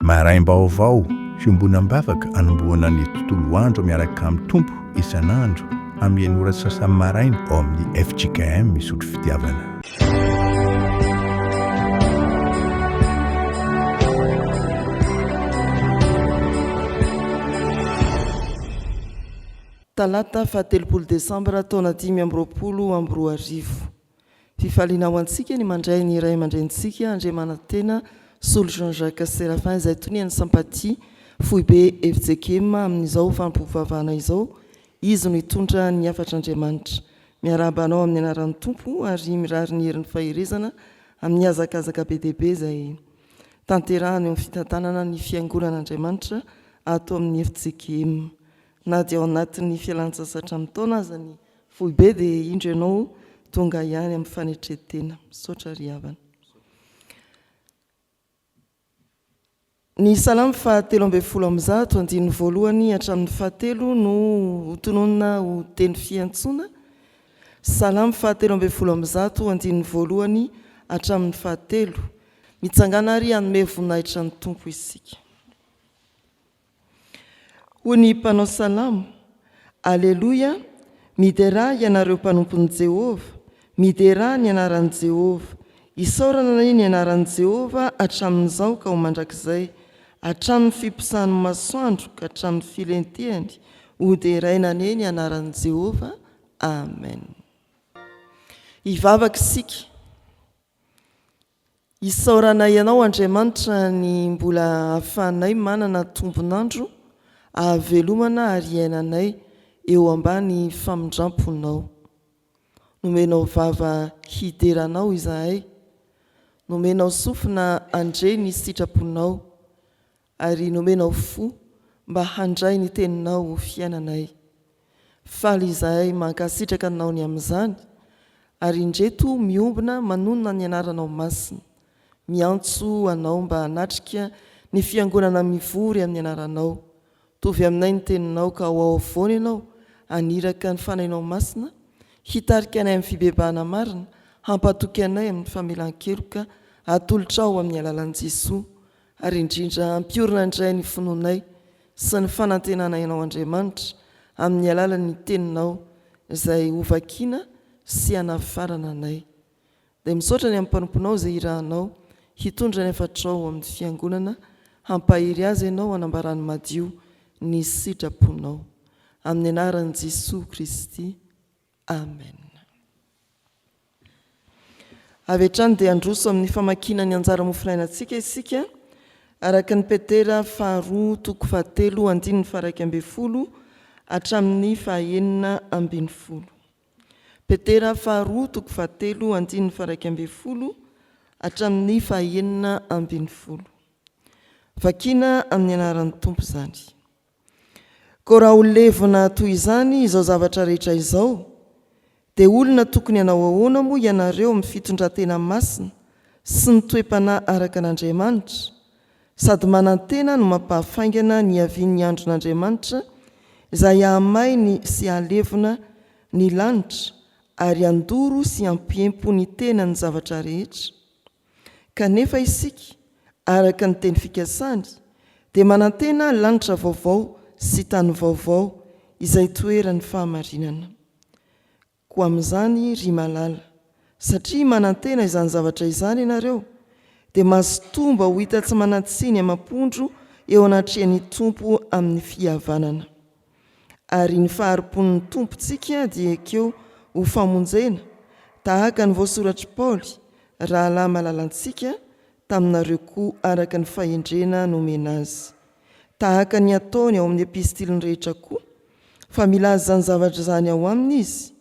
Maraim-baovao, fiombonam-bavaka anombohana ny tontolo andro miaraka amin'ny Tompo isan'andro amin'ny enina ora sy sasany maraina ao amin'ny fjkm Misotro Fitiavana. Talata fahatelopolo desambra taona dimy amby roapolo amby roa arivo. Fifaliana ho antsika ny mandray ny Ray aman-drenintsika Andriamanantena Solo Jean Jacques Séraphin izay tonian'ny Sympathie, Foibe FJKM, amin'izao fampivavahana izao. Izy no hitondra ny hafatr'Andriamanitra. Miarahaba anao amin'ny anaran'ny Tompo ary mirary ny herin'ny faherezana amin'ny hazakazaka be dia be izay tanterahana eo amin'ny fitantanana ny Fiangonan'Andriamanitra ato amin'ny FJKM. Na dia ao anatin'ny fialantsasatra amin'ny taona aza ny Foibe dia indro ianao tonga ihany amin'ny fanetren-tena. Misaotra ry havana. Ny salamo fahatelo ambin'ny folo amby zato, andininy voalohany hatramin'ny fahatelo no ho tononina ho teny fiantsoana. Salamo fahatelo ambin'ny folo amby zato, andininy voalohany hatramin'ny fahatelo. Mitsangàna ary hanome voninahitra ny Tompo isika. Hoy ny mpanao salamo, Aleloia, miderà ianareo mpanompon'i Jehovah, miderà ny anaran'i Jehovah. Isaorana anie ny anaran'i Jehovah hatramin'izao ka ho mandrakizay, hatramin'ny fiposahan'ny masoandro ka hatramin'ny filentehany, hoderaina anie ny anaran'i Jehovah. Amen. Hivavaka isika. Isaoranay Anao, Andriamanitra, ny mbola ahafahanay manana tombon'andro ahavelomana ary iainanay eo ambany famindram-ponao. Nomenao vava hidera Anao izahay, nomenao sofina handre ny sitraponao, Ary nomenao fo mba handray ny teninao ho fiainanay. Faly izahay mankasitraka anao ny amin'izany, ary indreto miombona manonona ny anaranao masina, miantso anao mba hanatrika ny fiangonana mivory amin'ny anaranao. Tovy aminay ny teninao ka ho ao afovoany ianao haniraka ny fanahinao masina hitarika anay amin'ny fibebahana marina, hampatoky anay amin'ny famelan-keloka atolotrao amin'ny alalan'i Jesoa ary indrindra hampiorina indray ny finoanay sy ny fanantenanay Anao Andriamanitra amin'ny alalan'ny Teninao izay hovakina sy hanafarana anay. Dia misaotra ny amin'ny mpanomponao izay irahanao hitondra ny hafatrao ho amin'ny Fiangonana, hampahery azy Ianao hanambarany madio ny sitraponao. Amin'ny anaran'i Jesoa Kristy. Amen. Avy hatrany dia handroso amin'ny famakiana ny anjara mofonainantsika isika araka ny Petera faharoa toko fahatelo andininy faharaika ambin'ny folo hatramin'ny fahaenina ambin'ny folo. Petera faharoa toko fahatelo andininy faharaika ambin'ny folo hatramin'ny fahaenina ambin'ny folo. Vakina amin'ny anaran'ny Tompo izany. Koa raha ho levona toy izany izao zavatra rehetra izao, dia olona tokony hanao ahoana moa ianareo amin'ny fitondran-tena masina sy ny toe-panahy araka an'Andriamanitra? Sady manantena no mampahafaingana ny hiavian'ny andron'Andriamanitra izay hahamainy sy hahalevona ny lanitra ary handoro sy hampiempo ny tenany ny zavatra rehetra. Kanefa isika, araka ny teny fikasany, dia manantena lanitra vaovao sy tany vaovao izay hitoeran'ny fahamarinana. Koa amin'izany, ry malala, satria manantena izany zavatra izany ianareo, dia mazotoa-mba ho hita tsy manan-tsiny amam-pondro eo anatrehan'ny Tompo amin'ny fihavanana. Ary ny fahari-pon'ny Tompontsika dia ekeo ho famonjena, tahaka ny voasoratr'i Paoly, Rahalahy malalantsika, taminareo koa araka ny fahendrena nomena azy. Tahaka ny ataony ao amin'ny epistiliny rehetra koa, fa milaza izany zavatra izany ao aminy izy,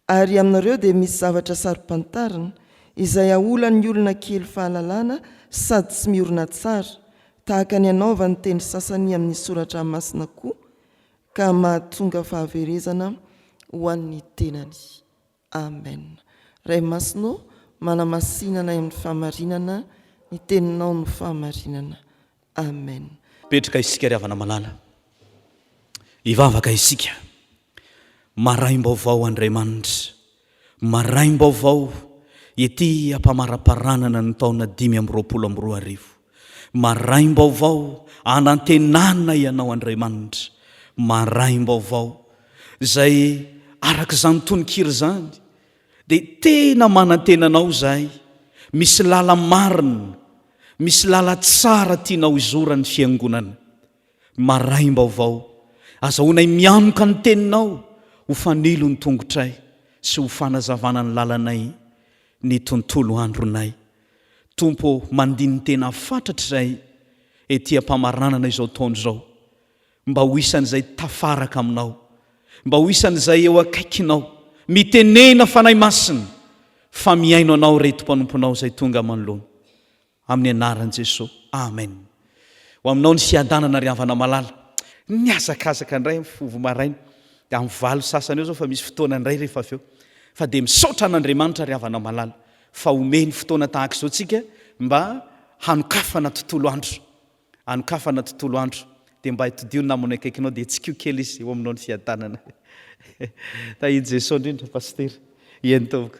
Ary aminareo dia misy zavatra saro-pantarina, izay aolan'ny olona kely fahalalana sady tsy miorina tsara, tahaka ny hanaovan'ny teny sasany amin'ny Soratra Masina koa, ka mahatonga fahaverezana ho an'ny tenany. Amen. Ray Masina ô, manamasina anay amin'ny fahamarinana, ny Teninao no fahamarinana. Amen. Petraka isika ry havana malala. Hivavaka isika. Maraim-baovao Andriamanitra, maraim-baovao ity ampamaraparanan ny taona dimy amby roapolo amby roa arivo. Maraim-baovao anantenana Ianao Andriamanitra, maraim-baovao izay araka izany tononkira izany dia tena manantena Anao izahay, misy lala-marina, misy lala-tsara tianao izora ny Fiangonana. Maraim-baovao, azahoanay mianoka ny Teninao ho fanilo ny tongotray sy ho fanazavana ny lalanay ny tontolo andronay. Tompo ô, mandini-tena fatratra izahay ety am-pamaranana izao taona izao, mba ho isan'izay tafaraka Aminao, mba ho isan'izay eo akaikinao, mitenena Fanahy Masina, fa mihaino Anao Reto Mpanomponao izay tonga manoloana. Amin'ny anaran'i Jesosy. Amen. Ho aminao ny fiadanana ry havana malala. Nihazakazaka indray amin'ny fo vao maraina dia amin'ny valo sasany eo zao fa misy fotoana indray rehefa avy eo. Fa dia misaotra an'Andriamanitra ry havana malala fa omeny fotoana tahaka izao tsika mba hanokafana tontolo andro. Anokafana tontolo andro. Dia mba hitodiho ny namana eo akaikinao dia hetsikio kely izy ho aminao ny fiadanana. Tahian'i Jesosy indrindra Pasitera. Eny tompoko.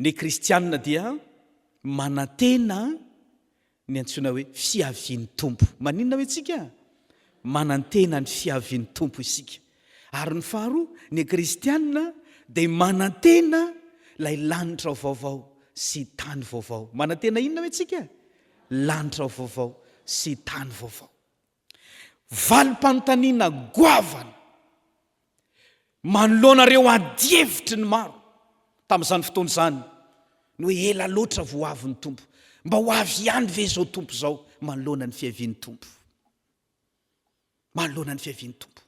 Ny kristianina dia manantena ny antsoina hoe fiavian'ny Tompo. Maninona hoy isika? Manantena ny fiavian'ny Tompo isika. Ary ny faharoa, ny kristianina dia manantena ilay lanitra vaovao sy tany vaovao. Manantena inona hoy isika? Lanitra vaovao sy tany vaovao. Valim-panontaniana goavana manoloana ireo adihevitry ny maro tamin'izany fotoana izany ny hoe ela loatra vao ho avy ny Tompo. Mba ho avy ihany ve izao Tompo izao manoloana ny fiavian'ny Tompo? Manoloana ny fiavian'ny Tompo.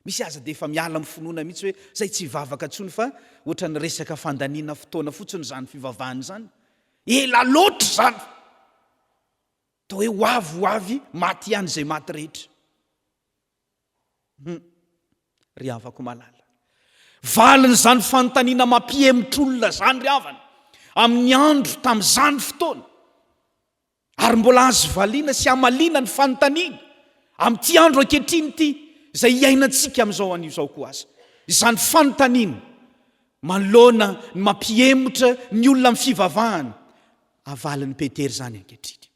Misy aza dia efa miala amin'ny finoana mihitsy hoe izay tsy hivavaka intsony fa ohatran'ny resaka fandaniana fotoana fotsiny izany fivavahana izany. Ela loatra izany! Toa hoe ho avy ho avy maty ihany izay maty rehetra. Hum. Ry havako malala. Valin'izany fanontaniana mampihemotr'olona izany ry havana amin'ny andro tamin'izany fotoana. Ary mbola azo valiana sy hamaliana ny fanontaniana amin'ity andro ankehitriny ity izay iainantsika amin'izao anio izao koa aza. Izany fanontaniana manoloana ny mampihemotra ny olona amin'ny fivavahana havalin'i Petera izany ankehitriny.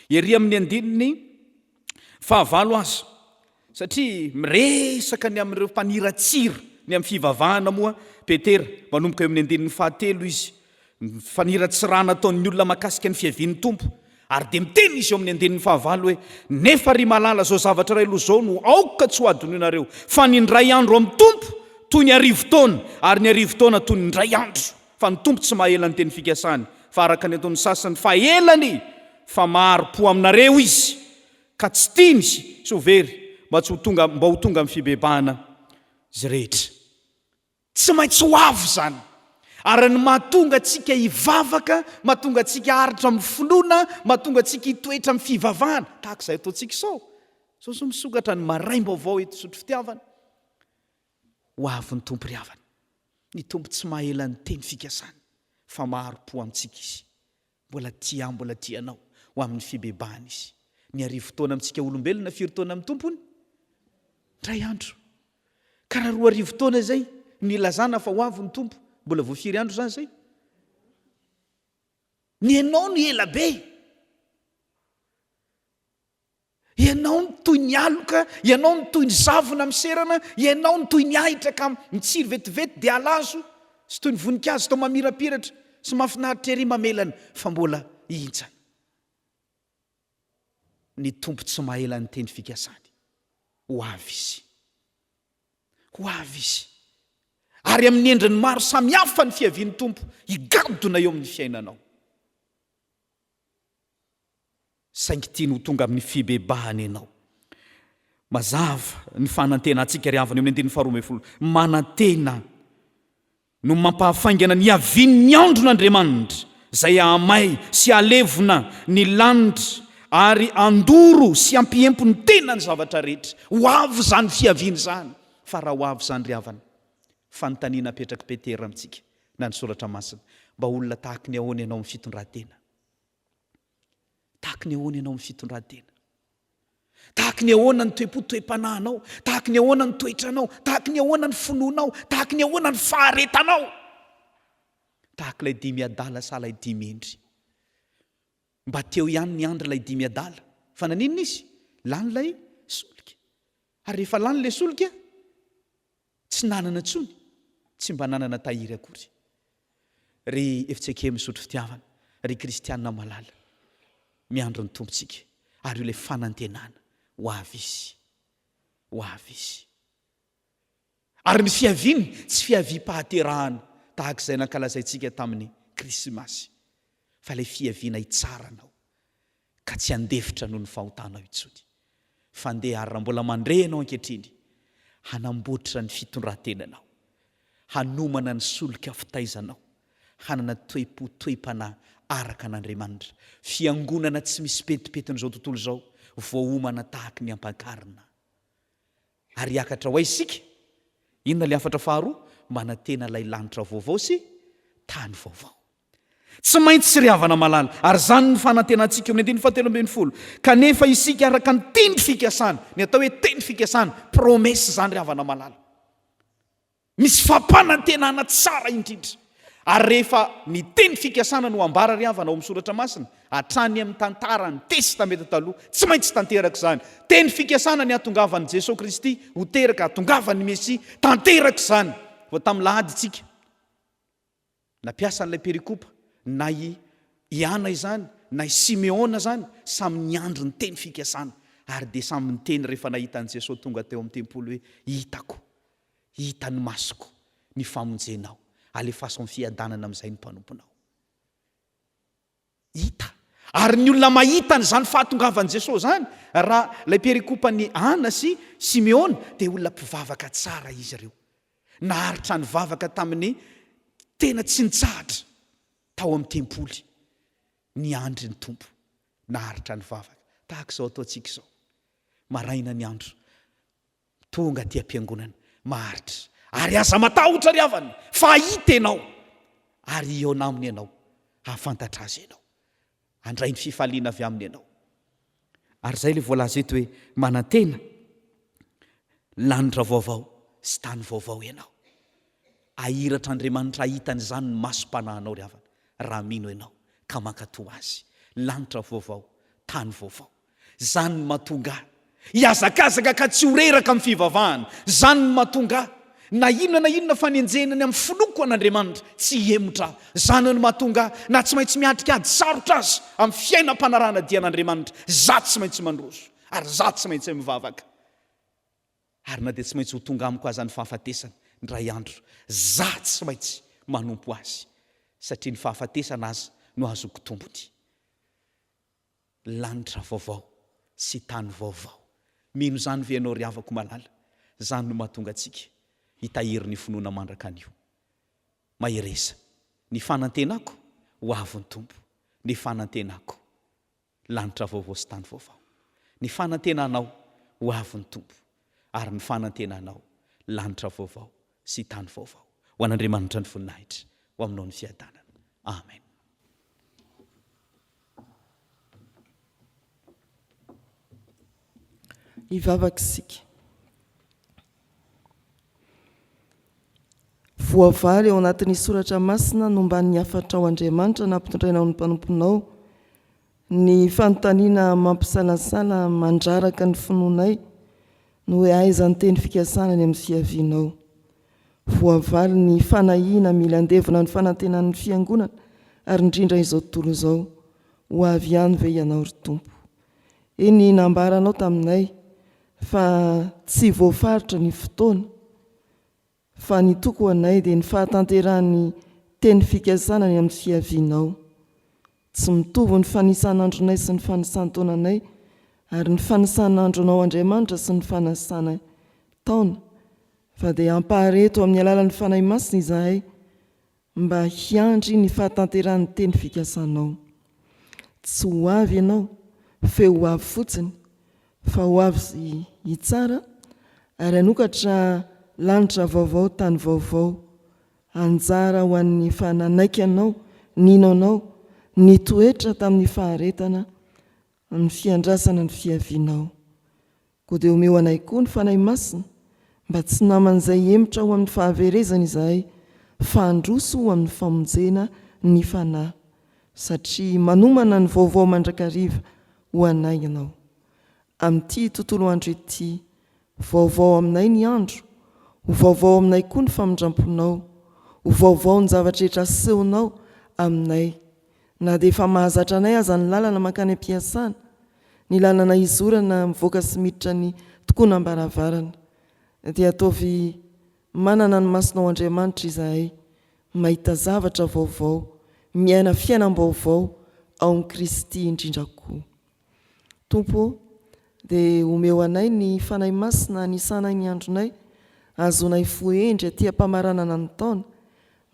Ery amin'ny andininy fahavalo aza, satria miresaka ny amin'ireo mpaniratsira ny amin'ny fivavahana moa Petera, manomboka eo amin'ny andininy fahatelo izy, ny faniratsirana ataon'ny olona mahakasika ny fiavian'ny Tompo, ary dia miteny izy eo amin'ny andininy fahavalo hoe, Nefa ry malala, izao zavatra iray aloha izao no aoka tsy hohadinoinareo, fa ny indray andro amin'ny Tompo toy ny arivo taona, ary ny arivo taona toy ny indray andro. Fa ny Tompo tsy mahaela ny teny fikasany, fa araka ny ataon'ny sasany, fa elany, fa mahari-po aminareo Izy, ka tsy tiany sy ho very, mba tsy ho tonga, mba ho tonga amin'ny fibebahana izy rehetra. Tsy maintsy ho avy izany. Ary ny mahatonga antsika hivavaka, mahatonga antsika haharitra amin'ny finoana, mahatonga antsika hitoetra amin'ny fivavahana, tahaka izay ataontsika izao. Izao izao misokatra ny Maraim-baovao eto Zotry Fitiavana. ho avy ny Tompo ry havana. Ny Tompo tsy mahaela ny teny fikasany fa maro po amintsika Izy. Mbola tia ahy, mbola tia anao ho amin'ny fibebahana Izy. Miarivo fotoana amintsika olombelona firy taona amin'ny Tompo hono? Indray andro. Ka raha roa arivo taona izay no ilazana fa ho avy ny Tompo, mbola vao firy andro izany izay? Ny anao no ela be. Ianao no toy ny aloka, Ianao no toy ny zavona miserana, Ianao no toy ny ahitra ka mitsiry vetivety dia halazo, sy toy ny voninkazo toa mamirapiratra sy mahafinaritra ery mamelana fa mbola hihintsana. Ny Tompo tsy maela ny teny fikasany. Ho avy Izy. Ho avy Izy. Ary amin'ny endriny maro samihafa ny fiavian'ny Tompo higadona eo amin'ny fiainanao. Saingy tiany ho tonga amin'ny fibebahana ianao. Mazava ny fanantenantsika ry havana eo amin'ny andininy faharoa ambin'ny folo. Manantena no mampahafaingana ny hiavian'ny andron'Andriamanitra, izay hahamay sy hahalevona ny lanitra ary handoro sy hampihempo ny tena ny zavatra rehetra. Ho avy izany fiaviana izany, fa raha ho avy izany ry havana, fanontaniana apetrak'i Petera amintsika, na ny soratra masina. Mba olona tahaky ny ahoana ianao amin'ny fitondran-tena? Tahaky ny ahoana ianao amin'ny fitondran-tena? Tahaky ny ahoana ny toe-po toe-panahinao? Tahaky ny ahoana ny toetranao? Tahaky ny ahoana ny finoanao? Tahaky ny ahoana ny faharetanao? Tahaky ilay dimy adala sa ilay dimy hendry? Mba teo ihany ny andry ilay dimy adala. Fa naninona izy? Lany ilay solika. Ary rehefa lany ilay solika, Tsy nanana intsony, tsy mba nanana tahiry akory. Ry Eftseke misotro fitiavana, ry kristiana malala, miandry ny Tompontsika, ary io ilay fanantenana ho avy Izy, ho avy Izy. Ary ny fiaviany tsy fiaviam-pahaterahana tahaka izay nankalazaintsika tamin'ny Krismasy, fa ilay fiaviana hitsara anao. ka tsy handefitra noho ny fahotanao intsony, fa ndeha ary raha mbola mandre ianao ankehitriny, hanamboatra ny fitondran-tenanao, hanomana ny solika fitaizanao, hanana toe-po, toe-panahy araka an'Andriamanitra, fiangonana tsy misy pentimpentin'izao tontolo izao, voaomana tahaky ny ampankarina. Ary hiakatra ho aiza isika? Inona ilay hafatra faharoa? Manantena ilay lanitra vaovao sy tany vaovao. Tsy maintsy ry havana malala, ary izany no fanantenantsika eo amin'ny andininy fahatelo ambin'ny folo. Kanefa isika araka ny teny fikasana, ny atao hoe teny fikasana, promesse izany ry havana malala. Misy fampanantenana tsara indrindra. Ary rehefa ny teny fikasana no ambara ry havana ao amin'ny Soratra Masina, hatrany amin'ny tantaran'ny Testamenta Taloha, tsy maintsy tanteraka izany. Teny fikasana ny hatongavan'i Jesoa Kristy ho teraka, hatongavan'ny Mesia. Tanteraka izany. Vao tamin'ny lahady isika. Na mpiasa an'ilay perikopa na i i Ana izany na i Simeona izany, samy niandry ny teny fikasana, ary dia samy niteny rehefa nahita an'i Jesoa tonga teo amin'ny tempoly hoe, Hitako, hitan'ny masoko, ny famonjenao. Alefaso amin'ny fiadanana amin'izay ny mpanomponao. hita. Ary ny olona mahita an'izany fahatongavan'i Jesoa izany, raha ilay perikopan'i Ana sy Simeona, dia olona mpivavaka tsara izy ireo. Naharitra nivavaka tamin'ny tena tsy nitsahatra tao amin'ny tempoly, niandry ny Tompo. Naharitra nivavaka, tahaka izao ataontsika izao, maraina ny andro. Tonga aty am-piangonana maharitra ary aza matahotra ry havana fa hahita ianao ary hihaona aminy ianao, hahafantatra Azy ianao, handray ny fifaliana avy aminy ianao. Ary izay ilay voalaza eto hoe manantena lanitra vaovao sy tany vaovao ianao. Hahiratra Andriamanitra hahita an'izany ny masom-panahinao ry havana raha mino ianao ka mankatò Azy. Lanitra vaovao, tany vaovao. Izany no mahatonga ahy hihazakazaka ka tsy ho reraka amin'ny fivavahana. Izany no mahatonga ahy, na inona na inona fanenjehina ny amin'ny finoako an'Andriamanitra, tsy hihemotra aho. Izany no mahatonga ahy, na tsy maintsy miatrika ady sarotra aza amin'ny fiainam-panarahana dian'Andriamanitra, izaho tsy maintsy mandroso, ary izaho tsy maintsy mivavaka. Ary na dia tsy maintsy ho tonga amiko aza ny fahafatesana indray andro, izaho tsy maintsy manompo Azy, satria ny fahafatesana aza no azoko tombony. Lanitra vaovao sy tany vaovao. Mino izany ve ianao ry havako malala? Izany no mahatonga antsika hitahiry ny finoana mandraka anio. Mahereza. Ny fanantenako ho avy ny Tompo. Ny fanantenako. Lanitra vaovao sy tany vaovao. Ny fanantenanao ho avy ny Tompo. ary ny fanantenanao, lanitra vaovao sy tany vaovao. Ho an'Andriamanitra ny voninahitra, ho aminao ny fiadanana. Amen. Hivavaka isika. Voavaly ao anatin'ny soratra masina no mba ny hafatrao Andriamanitra nampitondrainao ny mpanomponao Ny fanontaniana mampisalasala mandraraka ny finoanay no hoe aiza ny teny fikasana any amin'ny fiavianao? Voavaly ny fanahiana mila handevina ny fanantenan'ny Fiangonana ary indrindra izao tontolo izao, ho avy ihany ve Ianao ry Tompo? Eny nambaranao taminay fa tsy voafaritra ny fotoana, Fa ny toko ho anay dia ny fahatanterahan'ny teny fikasana ny amin'ny fiavianao. Tsy mitovy ny fanisan'andronay sy ny fanisan-taonanay, ary ny fanisan'andronao Andriamanitra sy ny fanasanay taona, fa dia hampahareto amin'ny alalan'ny Fanahy Masina izahay, Mba hiandry ny fahatanterahan'ny teny fikasanao. Tsy ho avy ianao f'eo ho avy fotsiny, fa ho avy sy hitsara ary hanokatra lanitra vaovao, tany vaovao. Anjara ho an'ny efa nanaiky anao, nino anao, nitoetra tamin'ny faharetana, ny fiandrasana ny fiavianao. Koa dia omeo anay koa ny Fanahy Masina, mba tsy naman'izay hemotra ho amin'ny fahaverezana izahay, fa handroso ho amin'ny famonjena ny fanahy, satria manomana ny vaovao mandrakariva ho anay Ianao. Amin'ity tontolo andro ity, vaovao aminay ny andro, ho vaovao aminay koa ny famindram-ponao, ho vaovao ny zava-drehetra asehonao aminay, Na dia efa mahazatra anay aza ny lalana mankany am-piasana, ny lalana hizorana mivoaka sy miditra ny tokonam-baravarana, dia ataovy manana ny masonao Andriamanitra izahay, mahita zavatra vaovao, miaina fiainam-baovao ao amin'i Kristy indrindra koa. Tompo ô, dia omeo anay ny Fanahy Masina hanisanay ny andronay, hahazoanay fo hendry aty am-pamaranana ny taona,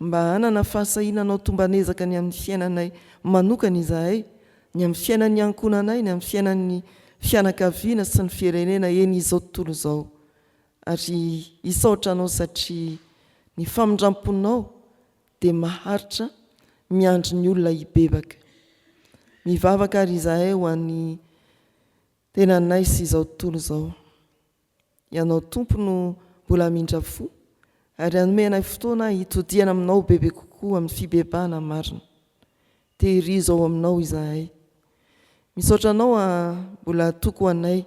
mba hanana fahasahiana hanao tomban'ezaka ny amin'ny fiainanay manokana izahay, ny amin'ny fiainan'ny ankohonanay, ny amin'ny fiainan'ny fianakaviana sy ny firenena eny izao tontolo izao. Ary hisaotra Anao satria ny famindram-ponao Dia maharitra miandry ny olona hibebaka. Mivavaka ary izahay ho an'ny tenanay sy izao tontolo izao. Ianao Tompo no mbola hamindra fo ary hanome anay fotoana hitodihana aminao bebe kokoa amin'ny fibebahana marina. Tehirizo ao aminao izahay. Misaotra anao a mbola toko ho anay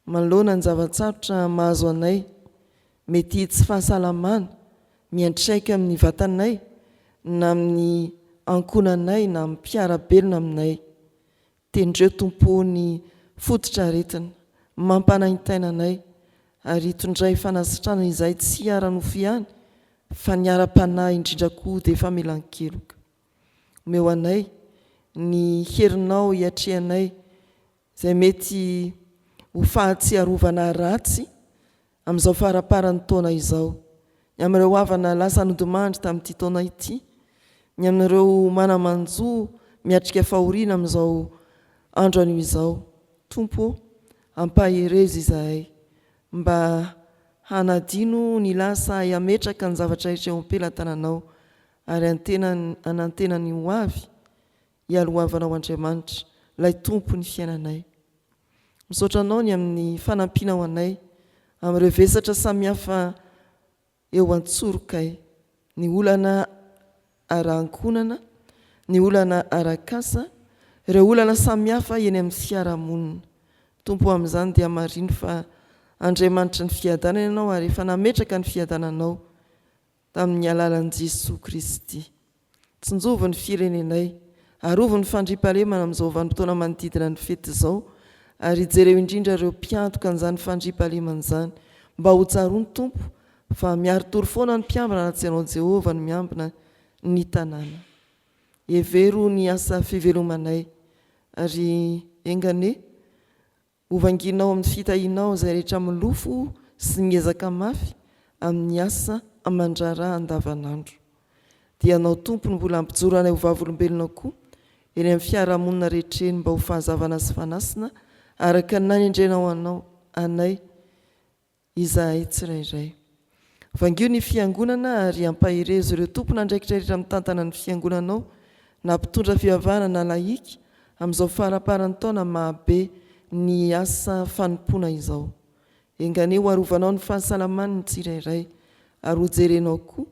Manoloana ny zava-tsarotra mahazo anay, mety hitsy fahasalamana miantraika amin'ny vatanay na amin'ny ankohonanay na amin'ny mpiara-belona aminay. Tendreo Tompo o ny fototr'aretina mampanaintaina anay ary itondray fanasitranana izay tsy ara-nofo ihany fa ny ara-panahy indrindra koa dia famelan-keloka. Omeo anay ny herinao hiatrehanay izay mety ho fahatsiarovana ratsy amin'izao faramparan'ny taona izao, ny amin'ireo havana lasa nodimandry tamin'ity taona ity, ny amin'ireo mana-manjo miatrika fahoriana amin'izao andro anio izao. Tompo ô, ampaherezo izahay mba hanadino ny lasa ahy hametraka ny zavatra rehetra eo am-pelatananao ary antenany hanantena ny ho avy, Ialohavanao Andriamanitra, Ilay Tompon'ny fiainanay. Misaotra Anao ny amin'ny fanampianao anay amin'ireo vesatra samihafa eo an-tsorokay, ny olana ara-ankohonana, ny olana ara-kasa, ireo olana samihafa eny amin'ny fiarahamonina. Tompo o, amin'izany dia marino fa Andriamanitry ny fiadanana Ianao ary efa nametraka ny fiadananao tamin'ny alalan'i Jesoa Kristy. Tsinjovy ny firenenay, arovy ny fandriampahalemana amin'izao vanim-potoana manodidina ny fety izao, ary jereo indrindra ireo mpiantoka an'izany fandriampahalemana izany, mba ho tsaroany Tompo fa miari-tory foana ny mpiambina raha tsy Ianao Jehovah no miambina ny tanàna. Hevero ny asa fivelomanay, ary enga anie Hovanginao amin'ny fitahianao izay rehetra milofo sy miezaka mafy amin'ny asa aman-draharaha andavanandro. Dia anao Tompo no mbola hampijoro anay ho vavolombelonao koa eny amin'ny fiarahamonina rehetra eny mba ho fanazavana sy fanasina araka ny nanendrenao anao, anay. Izahay tsirairay. Vangio ny Fiangonana ary ampaherezo ireo tompon'andraikitra rehetra mitantana ny Fiangonana ao, na mpitondra fivavahana na lahika, amin'izao faraparan'ny taona maha-be ny asa fanompoana izao. Enganeho hoarovanao ny fahasalamany ny tsirairay, ary hojerenao koa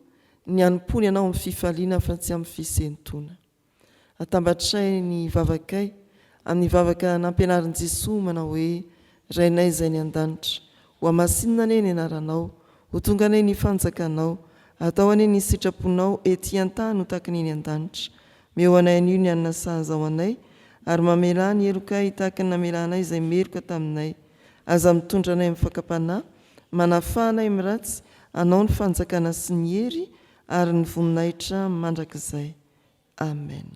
ny hanompoany anao amin'ny fifaliana fa tsy amin'ny fisentoana. Atambatray ny vavakay amin'ny vavaka nampianarin'i Jesoa manao hoe, Rainay izay any an-danitra, hohamasinina anie ny anaranao, ho tonga anie ny fanjakanao, atao anie ny sitraponao ety an-tany ho takiny eny an-danitra. Meo anay anio ny hanina sahaza ho anay, ary mamelà ny helokay tahaka ny namelanay izay meloka taminay. Aza mitondra anay amin'ny fakam-panahy, manafaha anay amin'ny ratsy, anao ny fanjakana sy ny hery ary ny voninahitra mandrakizay. Amen.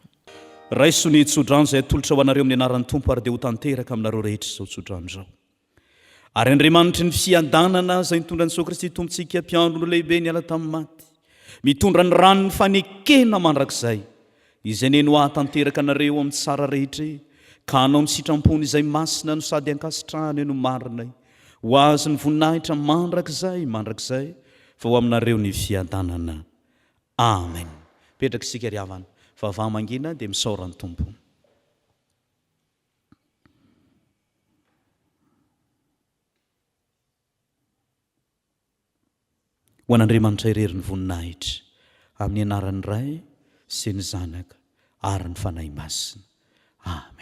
Raiso ny tsodrano izay atolotra ho anareo amin'ny anaran'ny Tompo ary dia ho tanteraka aminareo rehetra izao tsodrano izao. Ary Andriamanitry ny fiadanana izay nitondra an'i Jesoa Kristy Tompontsika mpiandry no lehibe niala tamin'ny maty, mitondra ny ran'ny fanekena mandrakizay, izay neny ho hahatanteraka anareo amin'ny tsara rehetre ka hanao ny sitrampony izay masina no sady ankasitrahany no marinay, ho azy ny voninahitra mandrakizay mandrakizay fa ho aminareo ny fiadanana. Amen mipetraka isika ry havana vava mangina dia misaora ny Tompo. Ho an'Andriamanitra irery ny voninahitra, amin'ny anaran'ny Ray sy ny Zanaka ary ny Fanahy Masina. Amen.